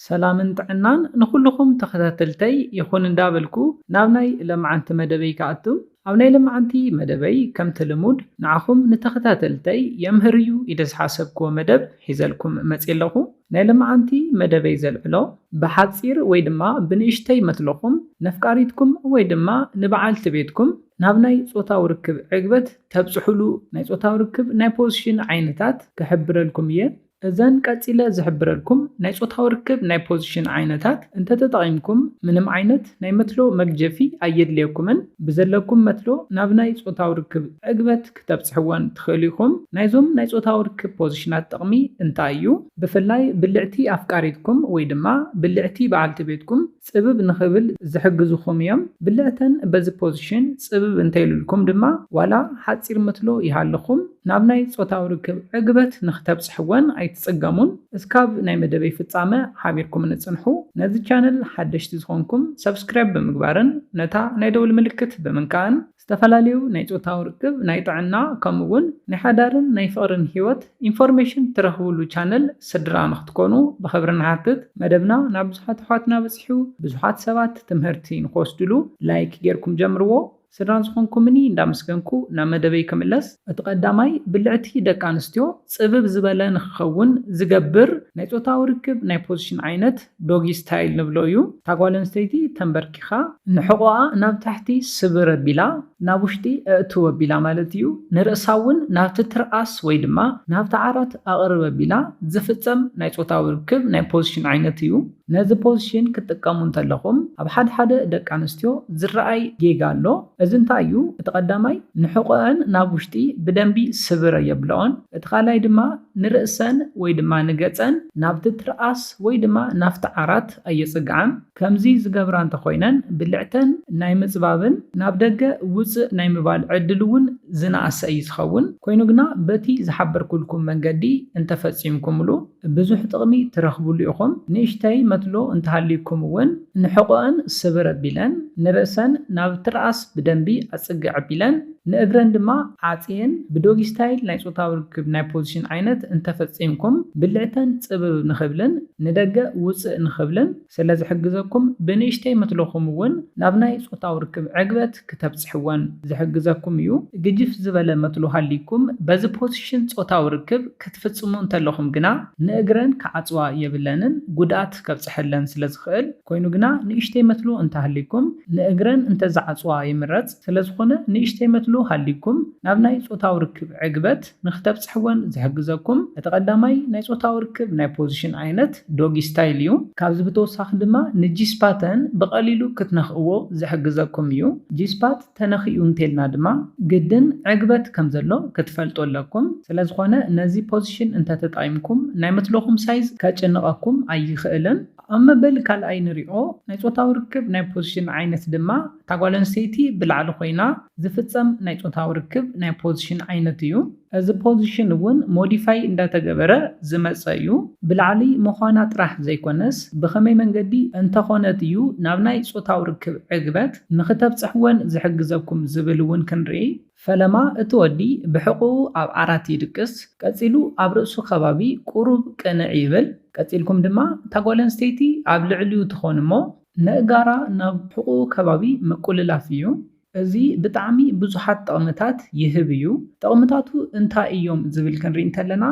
ሰላምን ጥዕናን ንኹሉኹም ተኸታተልተይ ይኹን እንዳበልኩ ናብ ናይ ለማዓንቲ መደበይ ክኣቱ ኣብ ናይ ለማዓንቲ መደበይ ከምቲ ልሙድ ንዓኹም ንተኸታተልተይ የምህር እዩ ኢለ ዝሓሰብክዎ መደብ ሒዘልኩም መጽየ ኣለኹ ናይ ለማዓንቲ መደበይ ዘልዕሎ ብሓጺር ወይ ድማ ብንእሽተይ መትሎኹም ነፍቃሪትኩም ወይ ድማ ንባዓልቲ ቤትኩም ናብ ናይ ጾታዊ ርክብ ዕግበት ተብጽሑሉ ናይ ጾታዊ ርክብ ናይ ፖዝሽን ዓይነታት ክሕብረልኩም እየ እዘን ቀጺለ ዝሕብረልኩም ናይ ጾታዊ ርክብ ናይ ፖዚሽን ዓይነታት እንተተጠቒምኩም ምንም ዓይነት ናይ መትሎ መግጀፊ ኣየድልየኩምን። ብዘለኩም መትሎ ናብ ናይ ጾታዊ ርክብ ዕግበት ክተብጽሕወን ትኽእሉ ኢኹም። ናይዞም ናይ ጾታዊ ርክብ ፖዚሽናት ጥቕሚ እንታይ እዩ? ብፍላይ ብልዕቲ ኣፍቃሪትኩም ወይ ድማ ብልዕቲ በዓልቲ ቤትኩም፣ ጽብብ ንኽብል ዝሕግዙኹም እዮም። ብልዕተን በዚ ፖዚሽን ጽብብ እንተይሉልኩም ድማ ዋላ ሓጺር ምትሎ ይሃልኹም ናብ ናይ ጾታዊ ርክብ ዕግበት ንኽተብጽሕወን ኣይትጽገሙን። እስካብ ናይ መደበይ ፍጻመ ሓቢርኩምኒ ጽንሑ። ነዚ ቻነል ሓደሽቲ ዝኾንኩም ሰብስክራይብ ብምግባርን ነታ ናይ ደውል ምልክት ብምንካእን ዝተፈላለዩ ናይ ጾታዊ ርክብ፣ ናይ ጥዕና ከምኡ ውን ናይ ሓዳርን ናይ ፍቕርን ሂወት ኢንፎርሜሽን ትረኽብሉ ቻነል ስድራ ንኽትኮኑ ብኽብሪ ንሓትት። መደብና ናብ ብዙሓት ኣሕዋትና በጺሑ ብዙሓት ሰባት ትምህርቲ ንኽወስድሉ ላይክ ጌርኩም ጀምርዎ። ስድራ ዝኾንኩምኒ እንዳመስገንኩ ናብ መደበይ ክምለስ። እቲ ቀዳማይ ብልዕቲ ደቂ ኣንስትዮ ጽብብ ዝበለ ንኽኸውን ዝገብር ናይ ጾታዊ ርክብ ናይ ፖዚሽን ዓይነት፣ ዶጊ ስታይል ንብሎ እዩ። እታ ጓል ኣንስተይቲ ተምበርኪኻ ንሕቖኣ ናብ ታሕቲ ስብር ኣቢላ ናብ ውሽጢ ኣእትው ኣቢላ ማለት እዩ። ንርእሳ እውን ናብቲ ትርኣስ ወይ ድማ ናብቲ ዓራት ኣቕርብ ኣቢላ ዝፍጸም ናይ ጾታዊ ርክብ ናይ ፖዚሽን ዓይነት እዩ። ነዚ ፖዚሽን ክትጥቀሙ እንተለኹም ኣብ ሓድሓደ ደቂ ኣንስትዮ ዝረኣይ ጌጋ ኣሎ። እዚ እንታይ እዩ? እቲ ቀዳማይ ንሕቖኣን ናብ ውሽጢ ብደንቢ ስብር ኣየብለኦን። እቲ ካልኣይ ድማ ንርእሰን ወይ ድማ ንገጸን ናብቲ ትርኣስ ወይ ድማ ናብቲ ዓራት ኣየጽግዓን። ከምዚ ዝገብራ እንተኾይነን ብልዕተን ናይ ምጽባብን ናብ ደገ ውጽእ ናይ ምባል ዕድል እውን ዝነኣሰ እዩ ዝኸውን። ኮይኑ ግና በቲ ዝሓበርኩልኩም መንገዲ እንተፈጺምኩምሉ ብዙሕ ጥቕሚ ትረኽብሉ ኢኹም። ንእሽተይ መትሎ እንተሃልዩኩም እውን ንሕቖኣን ስብር ኣቢለን ንርእሰን ናብ ትርኣስ ብደንቢ ኣጽግዕ ኣቢለን ንእግረን ድማ ዓጽየን ብዶጊ ስታይል ናይ ጾታዊ ርክብ ናይ ፖዚሽን ዓይነት እንተፈጺምኩም ብልዕተን ጽብብ ንኽብልን ንደገ ውጽእ ንኽብልን ስለዝሕግዘኩም ብንእሽተይ መትሎኹም እውን ናብ ናይ ጾታዊ ርክብ ዕግበት ክተብጽሕወን ዝሕግዘኩም እዩ። ግጅፍ ዝበለ መትሎ ሃልይኩም በዚ ፖዚሽን ጾታዊ ርክብ ክትፍጽሙ እንተለኹም ግና ንእግረን ክዓጽዋ የብለንን ጉድኣት ከብጽሐለን ስለዝኽእል ኮይኑ ግና ንእሽተይ መትሎ እንተሃልይኩም ንእግረን እንተዝዓጽዋ ይምረጽ። ስለዝኾነ ንእሽተይ መትሎ ሃልይኩም ናብ ናይ ጾታዊ ርክብ ዕግበት ንክተብጽሕወን ዝሕግዘኩም እቲ ቀዳማይ ናይ ጾታዊ ርክብ ናይ ፖዚሽን ዓይነት ዶጊ ስታይል እዩ። ካብዚ ብተወሳኺ ድማ ንጂስፓተን ብቀሊሉ ክትነኽእዎ ዝሕግዘኩም እዩ። ጂስፓት ተነኺኡ እንተልና ድማ ግድን ዕግበት ከምዘሎ ክትፈልጡ ኣለኩም። ስለዝኾነ ነዚ ፖዚሽን እንተተጣይምኩም ናይ መትሎኹም ሳይዝ ከጭንቐኩም ኣይኽእልን። ኣብ መበል ካልኣይ ንሪኦ ናይ ጾታዊ ርክብ ናይ ፖዚሽን ዓይነት ድማ እታ ጓል ኣንስተይቲ ብላዕሊ ኮይና ዝፍጸም ናይ ጾታዊ ርክብ ናይ ፖዚሽን ዓይነት እዩ። እዚ ፖዚሽን እውን ሞዲፋይ እንዳተገበረ ዝመጸ እዩ። ብላዕሊ ምዃና ጥራሕ ዘይኮነስ ብኸመይ መንገዲ እንተኾነት እዩ ናብ ናይ ጾታዊ ርክብ ዕግበት ንኽተብጽሕ ወን ዝሕግዘኩም ዝብል እውን ክንርኢ። ፈለማ እቲ ወዲ ብሕቝኡ ኣብ ዓራት ይድቅስ፣ ቀጺሉ ኣብ ርእሱ ከባቢ ቍሩብ ቅንዕ ይብል። ቀጺልኩም ድማ እታ ጓል ኣንስተይቲ ኣብ ልዕሊኡ ትኾን እሞ፣ ነእጋራ ናብ ሕቁኡ ከባቢ ምቁልላፍ እዩ። እዚ ብጣዕሚ ብዙሓት ጠቕምታት ይህብ እዩ። ጠቕምታቱ እንታይ እዮም ዝብል ክንሪኢ እንተለና።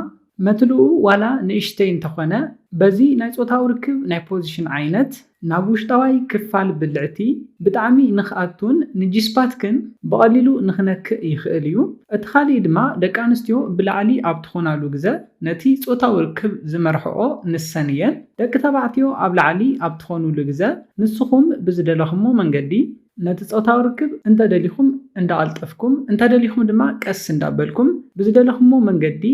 መትልኡ ዋላ ንእሽተይ እንተኾነ በዚ ናይ ጾታዊ ርክብ ናይ ፖዚሽን ዓይነት ናብ ውሽጣዋይ ክፋል ብልዕቲ ብጣዕሚ ንክኣቱን ንጂስፓትክን ብቐሊሉ ንክነክእ ይኽእል እዩ። እቲ ካሊእ ድማ ደቂ ኣንስትዮ ብላዕሊ ኣብ ትኾናሉ ግዘ። ነቲ ጾታዊ ርክብ ዝመርሕኦ ንሰን እየን። ደቂ ተባዕትዮ ኣብ ላዕሊ ኣብ ትኾኑሉ ግዘ፣ ንስኹም ብዝደለኹሞ መንገዲ ነቲ ጾታዊ ርክብ እንተደሊኹም እንዳቐልጠፍኩም እንተደሊኹም ድማ ቀስ እንዳበልኩም ብዝደለኹሞ መንገዲ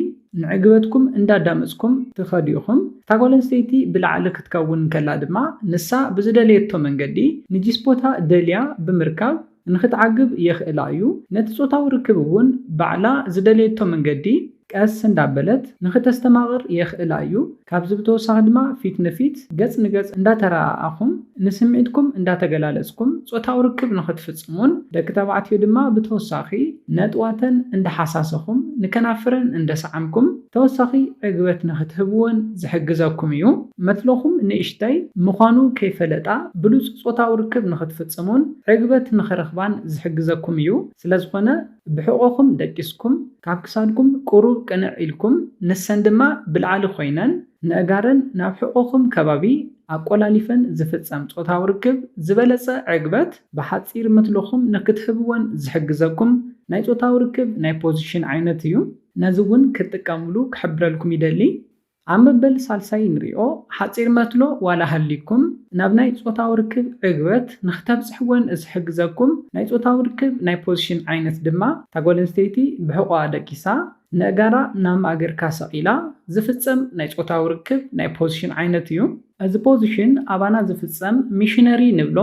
ንዕግበትኩም እንዳዳመፅኩም ትኸዱ ኢኹም። እታ ጓል ኣንስተይቲ ብላዕሊ ክትከውን እንከላ ድማ ንሳ ብዝደለየቶ መንገዲ ንጂስፖታ ደልያ ብምርካብ፣ ንኽትዓግብ የኽእላ እዩ። ነቲ ጾታዊ ርክብ እውን ባዕላ ዝደለየቶ መንገዲ ቀስ እንዳበለት ንኽተስተማቕር የኽእላ እዩ። ካብዚ ብተወሳኺ ድማ ፊት ንፊት፣ ገጽ ንገጽ፣ እንዳተረኣኣኹም ንስምዒትኩም እንዳተገላለጽኩም ጾታዊ ርክብ ንኽትፍጽሙን ደቂ ተባዕትዮ ድማ ብተወሳኺ ነጥዋተን እንዳሓሳሰኹም ንከናፍረን እንደሰዓምኩም ተወሳኺ ዕግበት ንኽትህብወን ዝሕግዘኩም እዩ። መትሎኹም ንእሽተይ ምዃኑ ከይፈለጣ ብሉጽ ጾታዊ ርክብ ንኽትፍጽሙን ዕግበት ንኽረኽባን ዝሕግዘኩም እዩ። ስለዝኾነ ብሕቖኹም ደቂስኩም፣ ካብ ክሳድኩም ቁሩብ ቅንዕ ኢልኩም፣ ንሰን ድማ ብላዕሊ ኮይነን ነእጋረን ናብ ሕቖኹም ከባቢ ኣቆላሊፈን ዝፍጸም ጾታዊ ርክብ ዝበለጸ ዕግበት ብሓጺር መትሎኹም ንኽትህብወን ዝሕግዘኩም ናይ ጾታዊ ርክብ ናይ ፖዚሽን ዓይነት እዩ። ነዚ ውን ክትጥቀምሉ ክሕብረልኩም ይደሊ ኣብ መበል ሳልሳይ ንሪኦ ሓጺር መትሎ ዋላ ሃልይኩም ናብ ናይ ጾታዊ ርክብ ዕግበት ንክተብጽሕዎን ዝሕግዘኩም ናይ ጾታዊ ርክብ ናይ ፖዚሽን ዓይነት ድማ እታ ጓል ኣንስተይቲ ብሕቆኣ ደቂሳ ነእጋራ ናብ ማእገርካ ሰቂላ ዝፍጸም ናይ ጾታዊ ርክብ ናይ ፖዚሽን ዓይነት እዩ። እዚ ፖዚሽን ኣባና ዝፍጸም ሚሽነሪ ንብሎ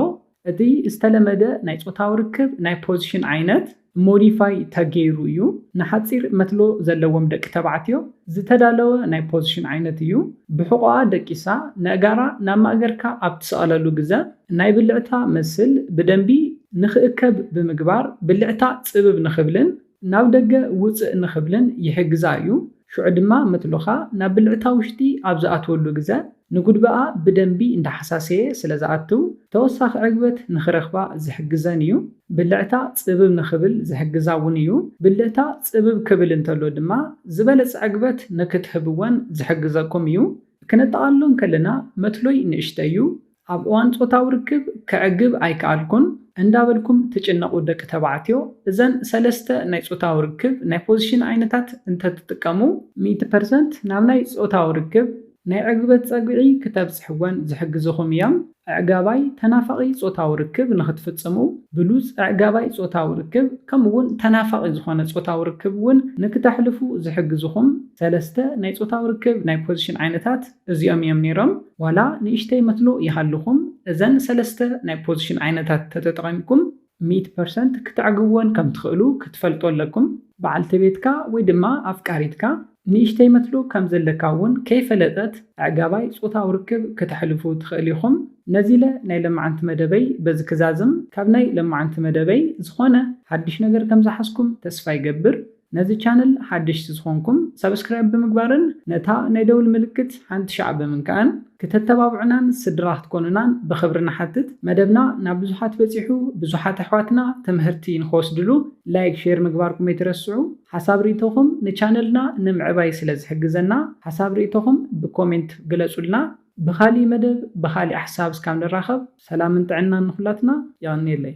እቲ ዝተለመደ ናይ ጾታዊ ርክብ ናይ ፖዚሽን ዓይነት ሞዲፋይ ተገይሩ እዩ። ንሓጺር መትሎ ዘለዎም ደቂ ተባዕትዮ ዝተዳለወ ናይ ፖዚሽን ዓይነት እዩ። ብሕቖኣ ደቂሳ ነእጋራ ናብ ማእገርካ ኣብ ትሰቕለሉ ግዘ ናይ ብልዕታ መስል ብደንቢ ንክእከብ ብምግባር ብልዕታ ጽብብ ንክብልን ናብ ደገ ውጽእ ንክብልን ይሕግዛ እዩ። ሽዑ ድማ መትሎኻ ናብ ብልዕታ ውሽጢ ኣብ ዝኣትወሉ ግዘ ንጉድበኣ ብደንቢ እንዳሓሳሰየ ስለ ዝኣትው ተወሳኺ ዕግበት ንኽረኽባ ዝሕግዘን እዩ። ብልዕታ ጽብብ ንኽብል ዝሕግዛ እውን እዩ። ብልዕታ ጽብብ ክብል እንተሎ ድማ ዝበለጸ ዕግበት ንክትህብወን ዝሕግዘኩም እዩ። ክነጠቓልሎ እንከለና መትሎይ ንእሽተይ እዩ፣ ኣብ እዋን ጾታዊ ርክብ ከዕግብ ኣይከኣልኩን እንዳበልኩም ትጭነቑ ደቂ ተባዕትዮ እዘን ሰለስተ ናይ ጾታዊ ርክብ ናይ ፖዚሽን ዓይነታት እንተትጥቀሙ ሚእቲ ፐርሰንት ናብ ናይ ጾታዊ ርክብ ናይ ዕግበት ጸግዒ ክተብጽሕወን ዝሕግዝኹም እዮም። ኣዕጋባይ ተናፋቒ ጾታዊ ርክብ ንኽትፍጽሙ፣ ብሉጽ ኣዕጋባይ ጾታዊ ርክብ ከምኡ'ውን ተናፋቒ ዝኾነ ጾታዊ ርክብ እውን ንክተሕልፉ ዝሕግዝኹም ሰለስተ ናይ ጾታዊ ርክብ ናይ ፖዚሽን ዓይነታት እዚኦም እዮም ነይሮም። ዋላ ንእሽተይ መትሎ ይሃልኹም፣ እዘን ሰለስተ ናይ ፖዚሽን ዓይነታት ተተጠቒምኩም፣ ሚእቲ ፐርሰንት ክተዕግብወን ከም ትኽእሉ ክትፈልጡ ኣለኩም። በዓልቲ ቤትካ ወይ ድማ ኣፍቃሪትካ ንእሽተይ መትሎ ከም ዘለካ እውን ከይፈለጠት ኣዕጋባይ ጾታዊ ርክብ ክተሕልፉ ትኽእል ኢኹም። ነዚለ ናይ ለማዓንቲ መደበይ በዚ ክዛዝም ካብ ናይ ለማዓንቲ መደበይ ዝኾነ ሓድሽ ነገር ከም ዝሓዝኩም ተስፋ ይገብር። ነዚ ቻነል ሓደሽቲ ዝኾንኩም ሳብስክራይብ ብምግባርን ነታ ናይ ደውል ምልክት ሓንቲ ሻዕ ብምንካእን ክተተባብዑናን ስድራ ክትኮኑናን ብኽብሪ ንሓትት መደብና ናብ ብዙሓት በጺሑ ብዙሓት ኣሕዋትና ትምህርቲ ንኽወስድሉ ላይክ ሼር ምግባርኩም ኣይትረስዑ ሓሳብ ሪኢቶኹም ንቻነልና ንምዕባይ ስለ ዝሕግዘና ሓሳብ ሪኢቶኹም ብኮሜንት ግለጹልና ብኻሊእ መደብ ብኻሊእ ሓሳብ እስካብ ንራኸብ ሰላምን ጥዕናን ንኹላትና የቐንየለይ።